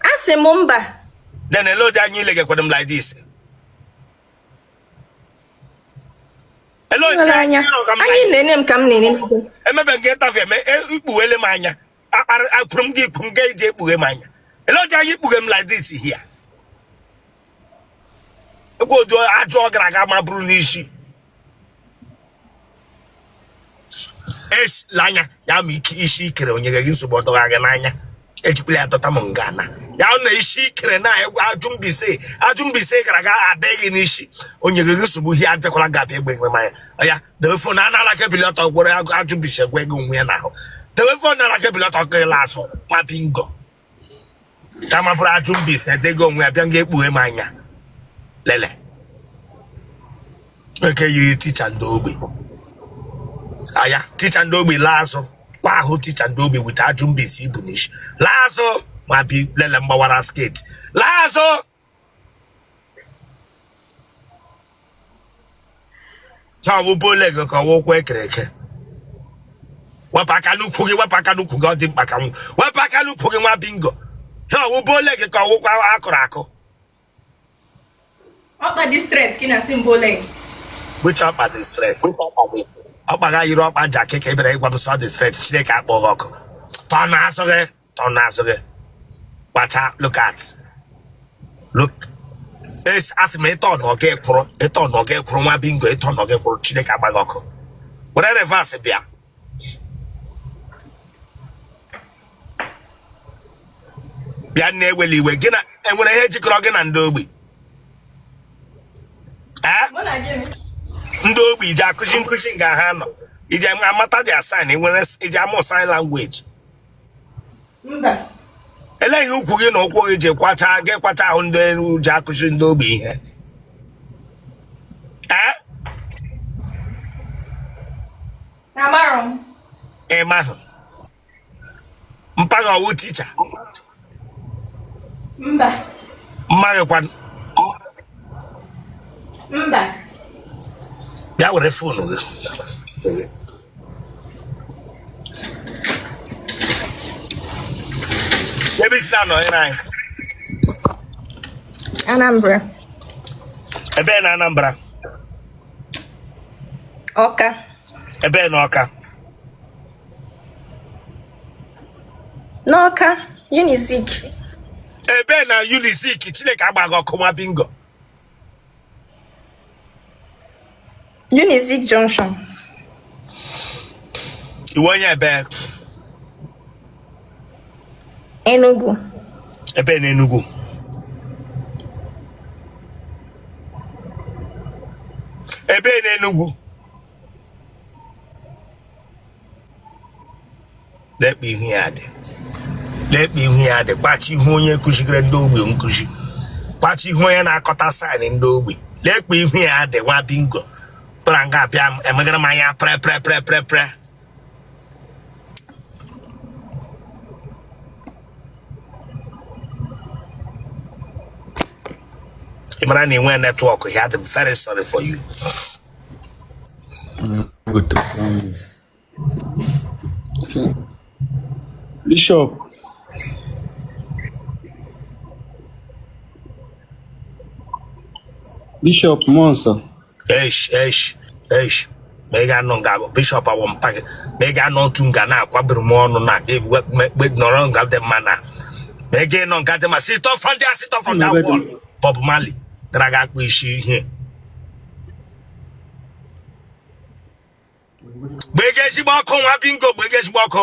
a sị m mba then ele otu anya ile gekwado m like this ele otu Nwere anya anya ịrụ ka m anyị like- na-ene m ka m na-ene m. emebe nke tafe eme e- ikpughele m anya akpara akpụrụ m gị ikpu m ga eji ekpughe m anya ele otu anya ikpughe m like this here ekwe otu ajụ gara aga ma buru n'isi esila anya ya ma ike isi i kere o nye gị nsogbu ọtọgha gị n'anya ejikwala ya dọta m nga na ya na isi i kere na egwu ajụ Mbaise ajụ Mbaise gara aga dị gị n'isi o nye gị nsogbu ihe abịakwala nga abịa egbe egbe manya ya debe fon a n'ala ka i bilie ọtọ were ajụ Mbaise gwa ego onwe ya n'ahụ debe fon n'ala ka i bilie ọtọ gị lasụ nwa bingo kama buru ajụ Mbaise dego onwe ya bịa nga ekpughe m anya lele nke yiri ticha ndị ogbi aya ticha ndị ogbi laa azụ kwa ahụ ticha ndị ogbi with ajụ Mbaise i bu n'isi laa azụ ma bi lele mgbawara sketi laa azụ ha bụ bow leg ka ọ wụ ụkwụ e kere eke wepụ aka n'ukwu gị wepụ aka n'ukwu gị ọ dị mkpa ka m wepụ aka n'ukwu gị nwa bingo ha ọ wụ bow leg ka ọ wụ ụkwụ a kụrụ akụ ọkpa dị straight ka ị na-asị m bow leg which ọkpa dị straight ọkpa gị yiri ọkpa jakị ka ị bịara ịgwa m sị ọ dị straight chineke kpọọ gị ọkụ tọ na asụ gị ọ na-azụ gị kpacha look at look Es- asị m ị tọ nga kwụrụ ị tọ nga kwụrụ nwa bingo ị tọ nga kwụrụ chineke gbaa gị ọkụ were reverse bịa bịa nne ewela iwe gị na e nwere ihe jikọrọ gị na ndị ogbi ee Mụ na gịnị? ndị ogbi i ji akụzi nkụzi nga ha nọ iji amata their sign enwere iji amụ sign language elee ihe ukwu gị na ụkwụ gị ji kwacha gị kwacha ahụ ndị ji akụzi ndị ogbi ihe ịmahụ mpa gị ọ wụ ticha mba mma gị kwanụ mba bịa were foonu gị ebee i si na-anọnyere anyị Anambra ebee na Anambra Ọka ebee na Ọka n'ọka unizik ebe na unizik chineke agba gị ọkụ nwa bingo unizik junction ị wụ onye ebe enugu ebe na enugu ebe na enugu lee kpa ihu ya dị lee kpa ihu ya dị kpa ihu onye kụzigere ndị ogbi nkụzi kpa ihu onye na-aghọta sign ndị ogbi lee kpa ihu ya dị nwa bingo pụra nga abịa emegara m anya pre pre pre pre pre ị mara na ị nwee network ya dị very sorry for you Bishop. Bishop Nonso. Eish, eish, eish. ma ị ga-anọ nga Bishop a wụ mpa gị ma ị ga-anọ otu nga na-akwabiri m ọnụ na nọrọ nga dị mma na ma ị ga-enọ nga dị mma sit up from there sit up from there Bob Marley gara aga akpụ isi ihe gbaa gị ezigbo ọkụ nwa bingo gbaa gị ezigbo ọkụ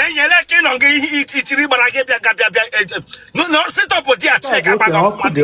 enyela ka ịnọ gị ihe itiri gbara gị bịa ga bịa bịa e, e, n'ụlọ sit up there chineke agba gị ọkụ mmadụ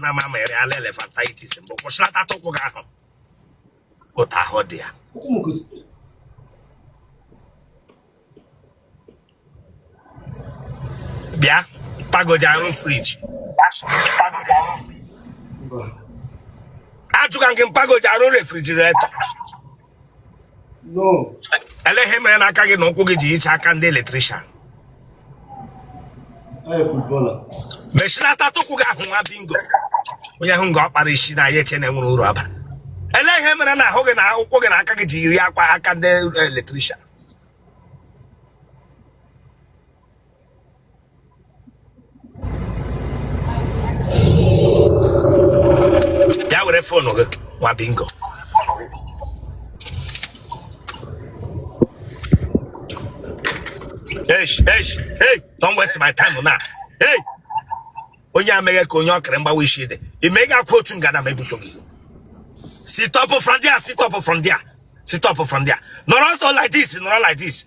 na mamịrị ala elephantiasis mbụ kwụsịlata ụkwụ gị ahụ otu ahụ dị ya bịa pagoja arụ fridge ajụka nke mpagoja arụ refrigerator elee ihe mere na aka gị na ụkwụ gị ji yichaa aka ndị electrician meshinata ụkwụ gị ahụ nwa bingo onye ahụ nga ọ kpara isi na ya eche na e nwere uru ọ bara elee ihe mere na ahụ gị na ụkwụ gị na aka gị ji yirikwa aka ndị electrician ya were phone gị nwa bingo Eish, eish, hey, don't waste my time now. Hey, onye a mege ka onye ọkara mgbawa isi dị i megakwa otu nga na m ebutuo gị sit up from there sit up from there sit up from there nọrọ ọsọ like this nọrọ like this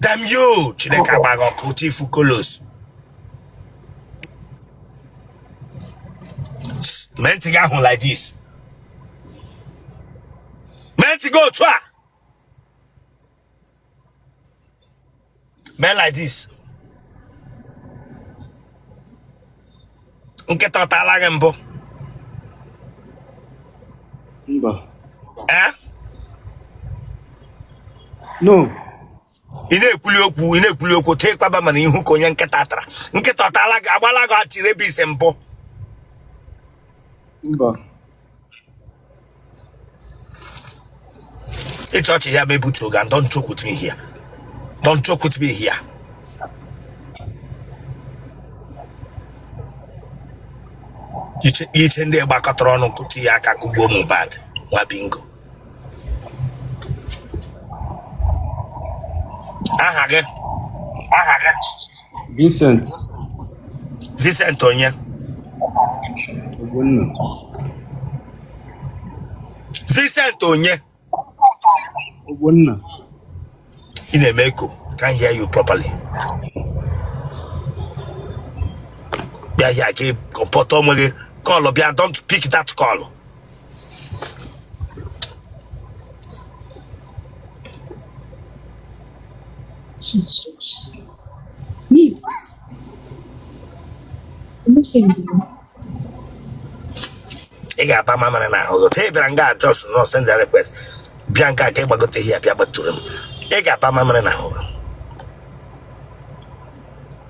Damn you! Chineke agbaa gị ọkụ otu ị fụ colours. Mee ntị gị ahụ like this. Mee ntị gị otu a. Mee like this. nkịta ọ taala gị mbụ mba ee no ị na-ekwuli okwu ị na-ekwuli okwu tee kpaba mana ihu ka onye nkịta tara nkịta ọ taala gị a gbaala gị anti-rabies mbụ mba ị chọ ọchị ya mebutu oga don't joke with me here don't joke with me here iche iche ndị gbakọtara ọnụ kụtụ ya aka kụgbuo Mohbad nwa bingo aha gị aha gị Vincent Vincent onye Ogbonna. Vincent onye Ogbonna. ị na-eme echo can't hear you properly bịa here gị comport onwe gị call bịa don't pick that call Jesus. Me. I'm saying ị ga-agba mamịrị na ahụ otu ị bịara nga a just na-send request bịa nke a ka ị gbagote here bịa gbatụrụ m ị ga-agba mamịrị na ahụ